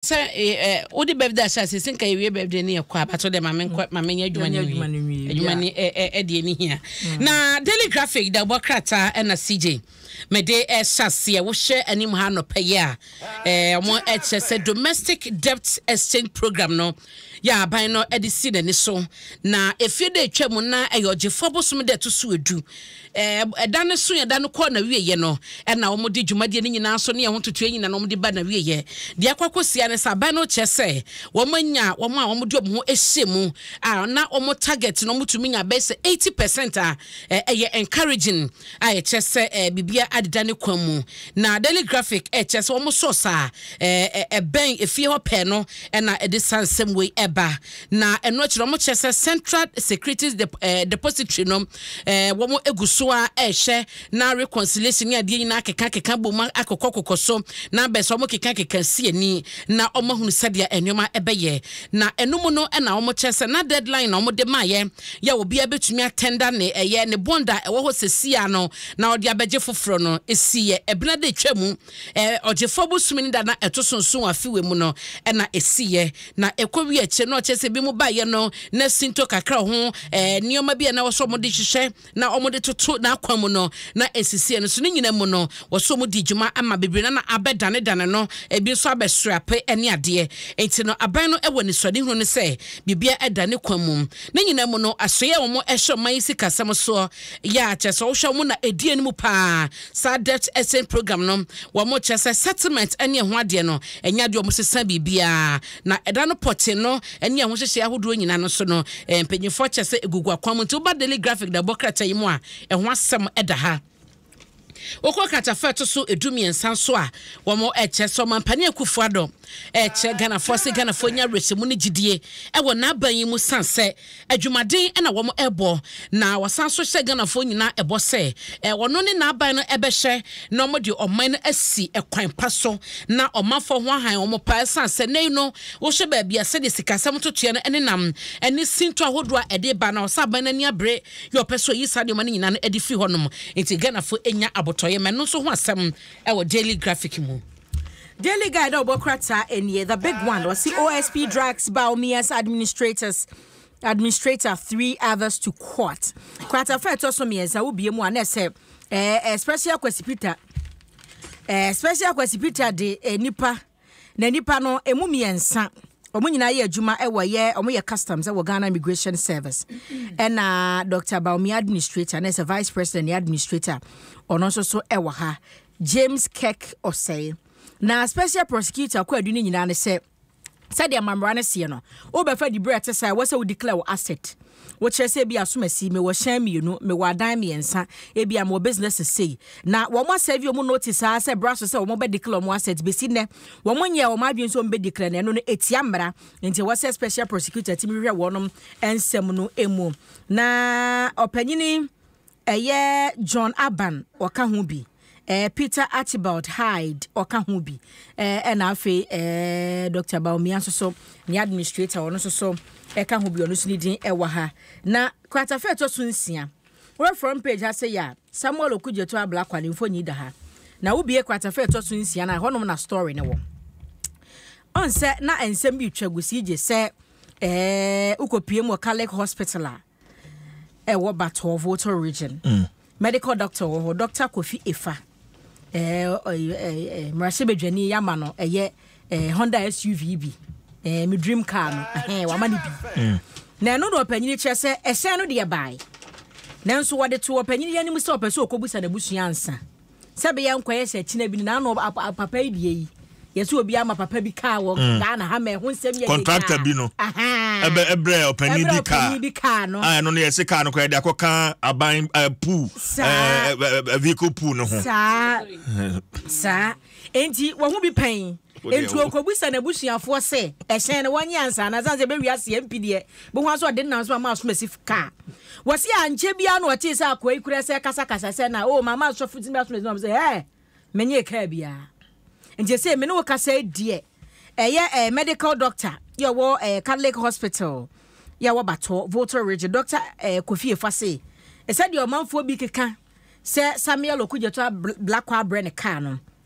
Sɛ eh, wode birthday ahyɛ ase sɛ nka yɛwie birthday ne yɛkɔ a but wode ma menkɔ mm. ma menyɛ adwuma no nwie adwuma no ɛde ani hia mm. na daily graphic da wobɔ krataa ɛna cj mede ɛhyɛ aseɛ wohwɛ anim ha nɔpɛ yɛ a ɔmo ɛkyɛ sɛ domestic debt exchange program no yɛ aban no ɛde si n'ani so na efie de atwa mu na ɛyɛ ɔgyefoɔ bosom de ɛto so edu Ɛɛ, ɛda no so ɛda no kɔɔ n'awieɛ no, ɛna wɔde dwumadie no nyinaa so ne ɛho ntotoeɛ nyina no wɔde ba n'awieɛ. Deɛ ɛkɔ akɔsia ne sɛ, abɛn no kyerɛ sɛ wɔanya wɔn a wɔde wɔn ho ahyɛ mu a na wɔn target no wɔtumi nya bɛyɛ sɛ eighty percent a ɛyɛ encouraging a ɛkyerɛ sɛ ɛɛ biribiara adeda ne kwan mu. Na Daily Graphic ɛkyerɛ sɛ wɔn source a ɛɛ ɛbɛn efie hɔ pɛɛ no ɛna ɛde saa nsɛm wei ɛba. Na ɛno akyiri no, wɔkyerɛ sɛ Central Securities Dep eh, Depository no, eh, wɔn egu so a ɛrehwɛ na reconciliation ne adeɛ nyinaa keka keka bom akokɔ kokɔ so na abɛn sɛ wɔn keka keka si ani na wɔn ahunu sɛdeɛ nneɛma ɛbɛyɛ. Na ɛno mu no ɛna wɔn kyerɛ sɛ na deadline na wɔn de maayɛ yɛ obiara betumi atɛnda ne ɛyɛ ne bond a ɛwɔ hɔ sɛsia no na ɔde abɛgye foforɔ no esi yɛ ɛbena de atwa mu. Ɔgyefoɔ bosome no da na ɛto so nson wɔ afe wei mu no na ɛsiiɛ. Na ɛkɔ wie akyire no, ɔkyerɛ sɛ bi mu baeɛ no na sintɔ kakra wɔ ho, nneɛma bi a na ɛwɔ sɛ wɔde hyehyɛ na wɔde toto n'akwan mu no na ɛnsisiiɛ. Nanso ne nyinaa mu no, wɔ sɛ wɔdii dwuma ma bebree no na abɛdanedane no, ebi nso abɛsoɛ ape ne adeɛ. Enti no, aban no wɔ anisoadehunu no sɛ biribiara ada ne kwan mu. Ne nyinaa mu no, asoeɛ a wɔhyɛ ɔman yi sikasɛm soɔ yɛ a, kyerɛ sɛ wohwɛ a, wɔn na ɛdi anim pa ara. Saa debt exchange program no, wɔn kyerɛ sɛ settlement ne ɛho adeɛ no, ɛnyɛ adeɛ wɔn sesa biribiara, na ɛda no pɔtee no ne ɛho hyehyɛɛ ahodoɔ nyinaa no so no, mpanyinfoɔ kyerɛ sɛ ɛgugu akwan mu. Nti woba Daily Graphic na ɛbɔ krataa yi mu a, ɛho asɛm da ha. Wokɔ kratafa ɛto so edu mmiɛnsa nso a, wɔn ɛkyerɛ sɛ ɔmampanin Akufo Addo ɛkyerɛ Ghanafoɔ sɛ Ghanafoɔ nya awerɛhyɛmu ne gyidie ɛwɔ n'aban yi mu san sɛ Adwumaden na wɔn bɔ na wɔasan nso hyɛ Ghanafoɔ nyinaa bɔ sɛ wɔno ne n'aban no bɛhwɛ na wɔn de ɔman no asi kwan pa so na ɔmanfoɔ ho ahan wɔn paa ɛsan sɛ nnɛ yi no wohwɛ baabi a sɛdeɛ sikasɛm ntotoeɛ no nenam ɛne sintɔ ahodoɔ a ɛde ba na ɔsɛ aban no ani abere yɛ ɔpɛ sɛ ɔyi saa nneɛma no nyinaa no ɛde firi hɔnom nti Ghanafoɔ nya abotɔeɛ ma ɛno nso ho asɛm ɛwɔ Daily Graphic mu. Daily Guide a ɔbɔ krataa ɛneɛ the big one ɔsi OSP drags Bawumia's administrators administrator three others to court krataa fɛ ɛtɔ so mmiɛnsa wobie mu a na ɛsɛ ɛɛ eh, eh, special Kwesi Peter ɛɛ eh, special Kwesi Peter de eh, nipa na nipa no emu mmiɛnsa wɔn nyinaa yɛ adwuma wɔ yɛ wɔn yɛ customs wɔ ghana immigration service ɛna dr baomi administrator na ɛsɛ vice president yɛ administrator ɔno nso so wɔ ha James Kirk ɔsɛe. Na Special Prosecutor kwaadu no nyinaa ne sɛ, sɛdeɛ mmamera no seɛ no, wobɛfa diberɛ a ɛte saa a, ɛwɔ sɛ wo declare wo asset. Wokyerɛ sɛ ebia asomasi, mewɔ hyɛn mmienu, mewɔ adan mmiɛnsa, ebia mewɔ businesses sei. Na wɔn asɛve wɔn notice ara sɛ bra so sɛ wɔn bɛ declare wɔn asset. Bɛsi nnɛ, wɔn nyɛɛ wɔn adwene sɛ wɔn bɛ declare, na ɛno no ɛtia mmara. Nti ɛwɔ sɛ Special Prosecutor tumi hwehwɛ wɔnom nsɛm no mu. Na ɔpanyini Ɛyɛ John Urban ɔka ho bi, ɛɛ Peter Archibald Hyde ɔka ho bi, ɛɛ ɛna afei ɛɛ Doctor Bawumia nso so ne administrator ɔno nso so ɛka ho bi ɔno nso ne din ɛwɔ ha. Na kratafa ɛtɔ so nsia wɔ front page ha sɛ yɛ a Samuel Okudzeto Ablakwa ne mfoni da ha. Na wobie kratafa ɛtɔ so nsia no a ɛhɔnom na story no wɔ. Ɔnsɛ na nsɛm bi retwa gu si gye sɛ ɛɛ wokɔpie mu wɔ Catholic Hospital a. ɛwɔ batoɔ voto region mm. medical doctor wɔ hɔ doctor kofi efa mmarahyɛ badwani yɛama no ɛyɛ honda suv bi me dream car no wama no bi mm. na ɛno na ɔpanyini kyerɛ sɛ ɛhyɛn no deɛ bae nanso wɔde to ɔpanyini yɛ anim sɛ ɔpɛ sɛ ɔkɔbusa n'abusua ansa sɛ bɛyɛ nkɔyɛ sɛ kyena bi no na ano papa yi deɛ yi yɛsɛ obi ama papa bi kaa wɔ mm. ghana ha ma ɛho nsɛm yɛ contractor bi no ɛbɛ ɛbrɛ ɔpanyin bi kaa ɔpanyin bi kaa no a ah, ɛno no yɛsɛ kaa no kɔ yɛde akɔ kan aban eh, pool eh, eh, vehicle pool no ho saa saa enti wɔn ho bi pɛn nti okobusa n'abusuafoɔ sɛ ɛhyɛn no wɔnyɛ ansa na san sɛ bɛwi aseɛ mpi deɛ bɛhu aso ɔde nam so ama asom asi kaa Wɔse ankyɛ biara na ɔtee sɛ akoa yi kura sɛ rekasakasa sɛ na o mama asɔfo ti asomasi na ɔsɛ hɛɛ menyee kaa biara nti sɛ me ne wo kasa yi deɛ ɛyɛ ɛɛ medical doctor yɛ wɔ ɛɛ Catholic hospital yɛ wɔ Batɔ Volta region doctor ɛɛ Kofi Efa se ɛsɛ deɛ ɔmanfoɔ bi keka sɛ Samuel Okudzeto Blakwa abrɛ ne kaa no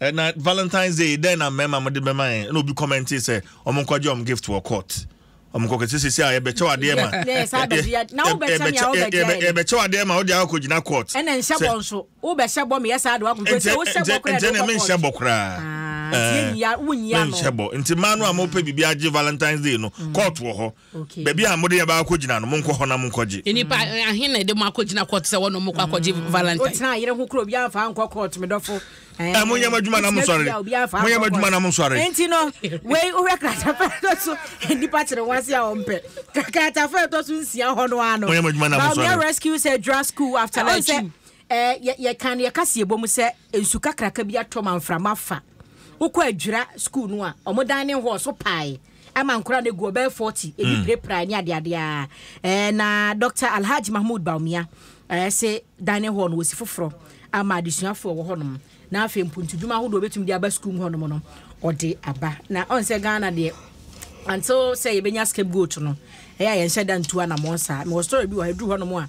Ɛna Valentine's Day dɛn na mmarima mo de bɛma yɛn ɛna obi kɔmɛnte sɛ wɔn nkɔgye wɔn gift wɔ court wɔn nkɔkɛ sɛ sisi a yɛbɛkyɛw adeɛ ma yɛbɛkyɛw adeɛ ma wode akɔ gyina court ɛna nhyɛ bɔ nso wobɛhyɛ bɔ meyɛ saa de wakɔ court sɛ wohyɛ bɔ koraa ɛna menhyɛ bɔ koraa menhyɛ bɔ nti mmaa no a mopɛ biribi agye Valentine's Day no court wɔ hɔ Baabi a mode yɛbaa akɔgyina no, monkɔ hɔ na monkɔgye. Nnipa ahe na ɛde mo akɔgyina kɔɔto sɛ wɔne mo kɔ akɔgye Valentine? Wotenaa yere ho koro a obiara mfaa nkɔ kɔɔto, me dɔfo. Ɛ, monyɛ mo adwuma na monsɔre. Monyɛ mo adwuma na monsɔre. Enti no, wei wohwɛ kratafa ɛtɔ so nnipa kyere wɔn ase a wɔmpɛ. Kratafa ɛtɔ so nsia hɔ no ara no. Monyɛ mo adwuma na monsɔre. Baomia Rescue sɛ Dra School after lunch sɛ ɛ yɛka no yɛka se yɛbɔ mu sɛ nsu kakraka bi atɔ ma mframa fa. Wokɔ adwira school no a, wɔn dan ne hɔ so pae. ama nkora no gu ɔbɛyɛ 40 ɛbi mm. pirapirae ne adeadeɛ a eh, na dr alhaj mahmud baumia eh, se dining hall no wɔsi foforɔ ama adesuafoɔ wɔ hɔnom na afei mpontodwuma ahodoɔ bɛtumi de aba sukuu mu hɔnom no ɔde aba na ɔn sɛ ghana deɛ until sɛ yɛbɛnya scapegoat no ɛyɛ a yɛnhyɛ da ntu anammɔn saa mewɔ story bi wɔ ha ɛduru hɔnom a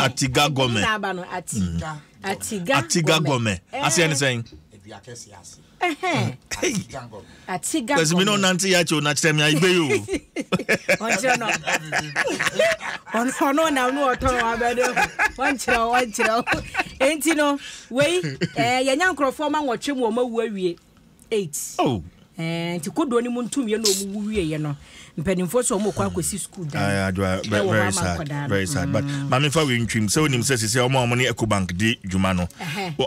atiga gɔmɛ atiga gɔmɛ aseɛ ne sɛn kasi mi na ɔnante yɛ akyɛ ɔna kyerɛ mi ayigbe yi o. ɔnkyerɛ no ɔno nam no ɔtɔn abɛde ɔnkyerɛ o ɔnkyerɛ o nti no wei yɛnya nkurɔfoɔ ma nwɔtwe mu ɔma wu awie eight. Oh. Eh, nti kodoɔ no mu ntumyɛ na ɔmu wu wieɛ no mpanimfoɔ sɛ ɔmu kɔ akɔsi sukuu dan eh, ɛwɔ hɔ ama nkɔdaa very sad but mm. maame fa wei ntwim sɛ wonim sɛ sisi ɔmo a ɔmo ne ecobank di dwuma no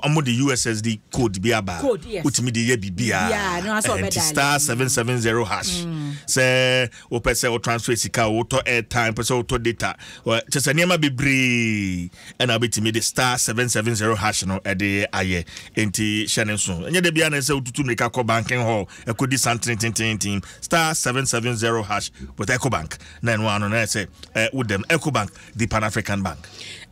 ɔmo de ussd code bi aba wotumi de yɛ biribiaa nti star seven seven zero hash mm. sɛ wopɛ sɛ wo transfer sika wotɔ airtime pɛ sɛ wotɔ data kyɛ sɛ nneɛma bebree ɛna wobɛtumi de star seven seven zero hash no ɛde ayɛ enti hyɛ ne nso ɛnyɛ da biara na ɛsɛ wotutu mmirika kɔ banking hall ɛkɔdi santene tententen star seven seven zero hash with ecobank na ɛno ano na ɛsɛ eh, wodam ecobank the pan african bank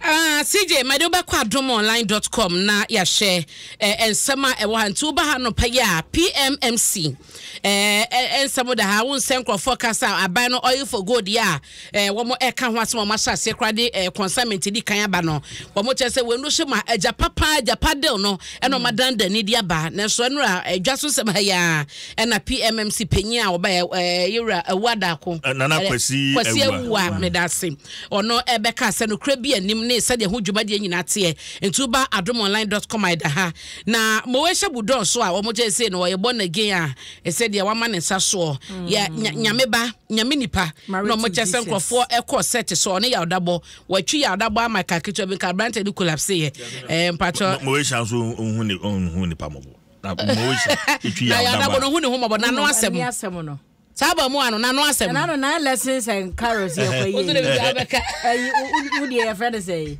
Uh, ah, CJ, mede wobɛkɔ adomonline.com na yɛahyɛ eh, nsɛm a ɛwɔ ha nti woba ha no pɛyɛ a PMMC eh, eh, nsɛm da ha wo nsɛ nkurɔfoɔ kasa aban no oil for gold yɛ a eh, wɔn ɛka ho asɛm a wɔn ahyɛ aseɛ koraa de eh, consignment di kan aba no wɔn kyerɛ sɛ wɔn hyɛ ma agya papa agya padel no ɛna wɔn adan dan ne di aba nanso ɛnura adwa so nsɛm ha yia ɛna pmmc panyin a ɔbɛ ɛɛ yɛwura awu adaako nana kwasi kwasi awu a medase ɔno ɛbɛka asɛ no kura bi anim ne sɛdeɛ ho dwumadie nyinaa teɛ ntuba adomonline dot com ɛda ha na mowɛhyɛ budɔɔ so a wɔn kyerɛ sɛ no wɔyɛ bɔ na gen a ɛsɛ deɛ wama ne nsa soɔ yɛ mm. nyame ba nyame nipa na ɔmo kyɛ sɛ nkurɔfoɔ ɛkɔ sɛt sɛ ɔne yawdabɔ wɔatwi yawdabɔ ama ka ketewa bi nka aberante bi collapse yɛ ɛɛ mpatsɔ. mɔwéhyia nso ohun ne ohun nipa mɔbɔ na mɔwéhyia etwi yawdabɔ na yawdabɔ no ohun ne ho mɔbɔ na ano asɛm no saa bɔ mu ano n'ano asɛm. ɛnna no nine lessons and carols yɛ kɔ yie ɛyi wo deɛ yɛ fɛ de sɛ yi.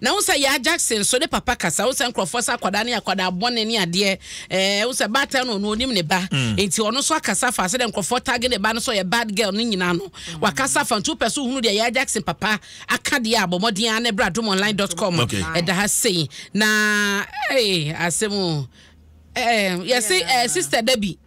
Na wohu sɛ Yaa Jackson nso ne papa kasa, wohu sɛ nkurɔfoɔ sɛ akwadaa ne akwadaa bɔne ne adeɛ, eh, wohu sɛ baatan no ɔno ɔnim ne ba, mm. nti ɔno nso akasa fa sɛdeɛ nkurɔfoɔ tag ne ba no sɛ ɔyɛ bad girl no nyinaa no, mm. wakasa fa nti wopɛ so wohunu deɛ Yaa Jackson papa aka deɛ a bɔ mmɔden ara ne bra domonline.com okay. ɛda ha sei na hey, asɛm o eh, yɛse yes, eh, sister Debbie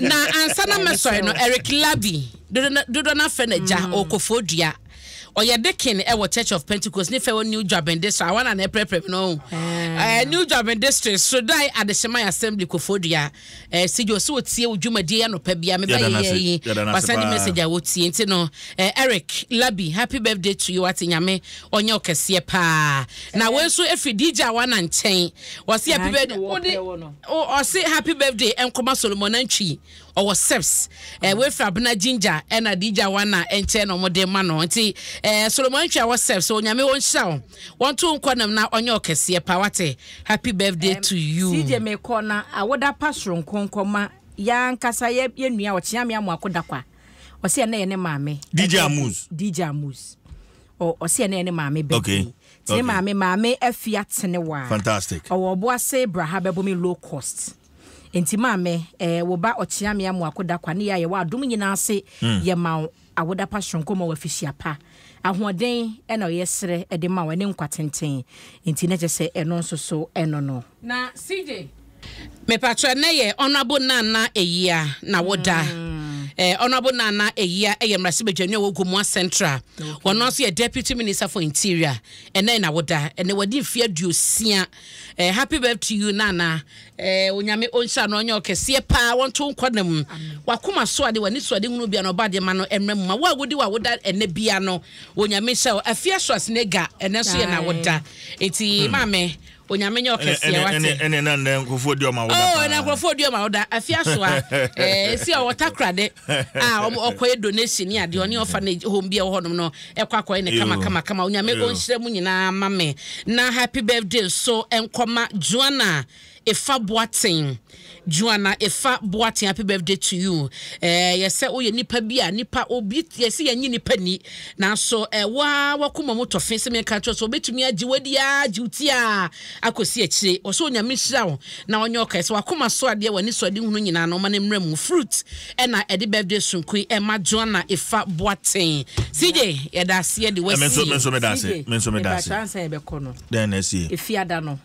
Na ansa na mɛsɔre no, Eric Larbi, dodoɔ no afrɛ n'agya, mm. ɔkɔfoɔ dua ɔyɛ dekin wɔ church of pentecost ne fɛ wɔ new dwaben district awa na na ɛprɛprɛ mi no ɛɛ new dwaben district sodai adehyemai assembly kofodua ɛɛ sigyo so wotie wo dwumadie anɔpa bia meba yɛyɛ yi wasan ne message a wotie nti no ɛɛ eric labi happy birthday to you ate nyame ɔnyɛ ɔkɛseɛ paa na wɔn nso efi dj awa na nkyɛn wɔsi happy birthday. O ɔse happy birthday nkɔma Solomon Antwi ɔwɔ seps eh, wei fra bena ginger ɛna dija wana ɛnkyɛn na ɔmo de ma no nti eh, Solomon Antwi ɔwɔ seps o nyame ɔnhyira wo wɔnto nkɔ nam na ɔnyɛ ɔkɛseɛ pa wate happy birthday to you. CJ mekɔ na awoda pa soronko nkɔma yɛ ankasa yɛ yɛ nua ɔkyeame amoako dakwa ɔse ɛnɛ yɛ ne maame DJ birthday Amuz. DJ Amuz ɔ ɔse ɛnɛ yɛ ne maame birthday Okay. Tene Okay. maame maame afia tene waa. Fantastic. Ɔwɔ ɔboase braha bɛbome low cost. Nti maame eh, wo ba ɔkyeame amu akoda kwa ne yɛ a yɛwɔ adom nyinaa ase hmm. yɛ ma wo awoda pa soronko ma wafihyia pa. Ahoɔden ɛna ɔyɛ serɛ ɛde ma wo ɛne nkwa tenten. Nti na kyɛ sɛ ɛno nso so ɛno no. Na CJ Mepakyɛ nɛ yɛ Honourable Nana Ayia na wo da. Eh, Honourable Nana Ayia yɛ mmarahyɛbadwani a ɔwɔ Gomoa Central. Wɔn no nso yɛ Deputy Minister for Interior. Ɛnɛ na wo da. Ɛnɛ wɔde mfeɛ aduosia. Eh, happy birthday to you Nana. Eh, onyame ɔnhyira no ɔnyɛ ɔkɛseɛ paa wɔnto nkɔ na mu. Wakoma so ade wani so ade hunu bia na ɔba adeɛ ma no ɛmra mu ma wo a wodi wa woda ɛnɛ bia no onyame hyɛ wo afie aso asenega ɛnɛ nso yɛ na wo da. Eti maame Onyame nyɛ ɔkɛseɛ wate. Ɛne na nnɛ nkurɔfoɔ di ɔma woda paa. Oh, na nkurɔfoɔ di ɔma woda. Afi aso a, eh, si a wɔta korade a wɔn ɔkɔyɛ donation ne adeɛ ɔne orphanage home bi a ɛwɔ hɔnom no ɛkɔ akɔyɛ ne kama kama kama. Onyame ɔnhyira mu nyinaa ma me. Na happy birthday nso nkɔma Joanna Efa Boateng. Juana efa boaten happy birthday to you eh yɛsɛ woyɛ nipa bi a nipa obi yɛsɛ yɛnye nipa ni nanso eh wo ara wakoma mu tɔfe sɛ menka kyerɛ sɛ obetumi agye wadi ara gye wo ti a akɔsi akyire wɔsɛ onyame nhyira wo na ɔnyɛ ɔkae sɛ wakoma so adeɛ w'ani so ade hunu nyinaa no ɔma no mmra mu fruit ɛna ɛde birthday sonko yi ɛma Juana efa boaten CJ yɛda aseɛ de wasi CJ yɛda akyɛ ansa yɛbɛkɔ no efiada no.